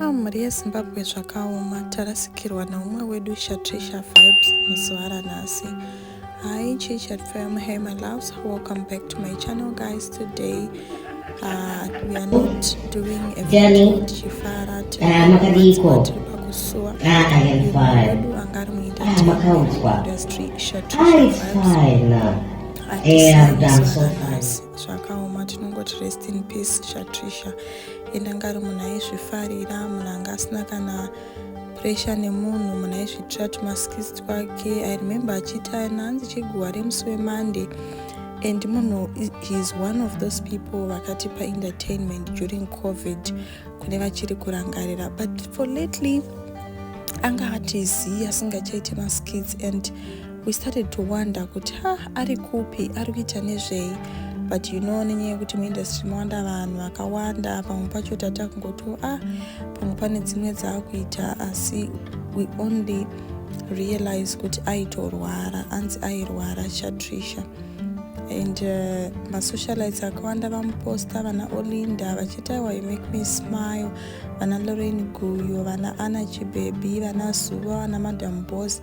Ah, mhuri yezimbabwe zvakaoma tarasikirwa naumwe wedu shatrisha vibes muzuva ranhasi hi chichat fam hey my loves welcome back to my channel guys today uh, we are not doing a video tichifara tinaamakadiiko kusuwa wedu anga ari muindustry shatrisha zvakaoma tinongoti rest in peace shatrisha ende anga ari munhu aizvifarira munhu anga asina kana pressure nemunhu munhu aizviitira tumaskis twake i remember achiti aina hanzi chiguva remusi wemonday and munhu heis one of those people vakatipa entertainment during covid kune vachiri kurangarira but for lately anga atizivi asingachaite maskits and we started to wonder kuti ha ari kupi ari kuita nezvei but you know nenyaya yekuti muindustry mawanda vanhu vakawanda pamwe pacho tata kungoti ah pamwe pane dzimwe dzaakuita asi we only realize kuti aitorwara anzi airwara chatrisha and uh, masocialites akawanda vamuposta vana olinda vachitaiwa you make me smile vana lorain guyo vana ana chibebi vana zuva vana madam boss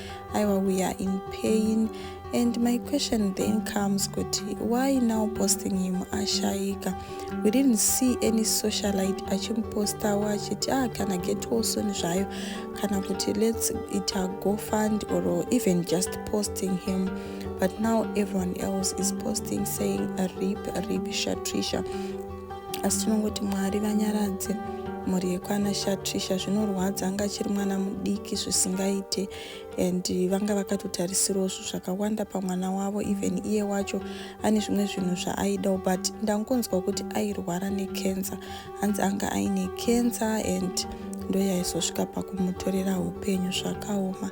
aiwa we are in pain and my question then comes kuti why now posting him ashaika we didn't see any socialite achimupostawo achiti ah kana get well soon zvayo kana kuti let's it a go fund or even just posting him but now everyone else is posting saying rip rip shatrisha asi tinongoti mwari vanyaradze mhuri yekwana shatrisha zvinorwadza anga achiri mwana mudiki zvisingaite and vanga vakatotarisirawo zvinhu zvakawanda pamwana wavo even iye wacho ane zvimwe zvinhu zvaaidawo but ndangonzwa kuti airwara necancer hanzi anga aine cancer and ndoyaizosvika pakumutorera upenyu zvakaoma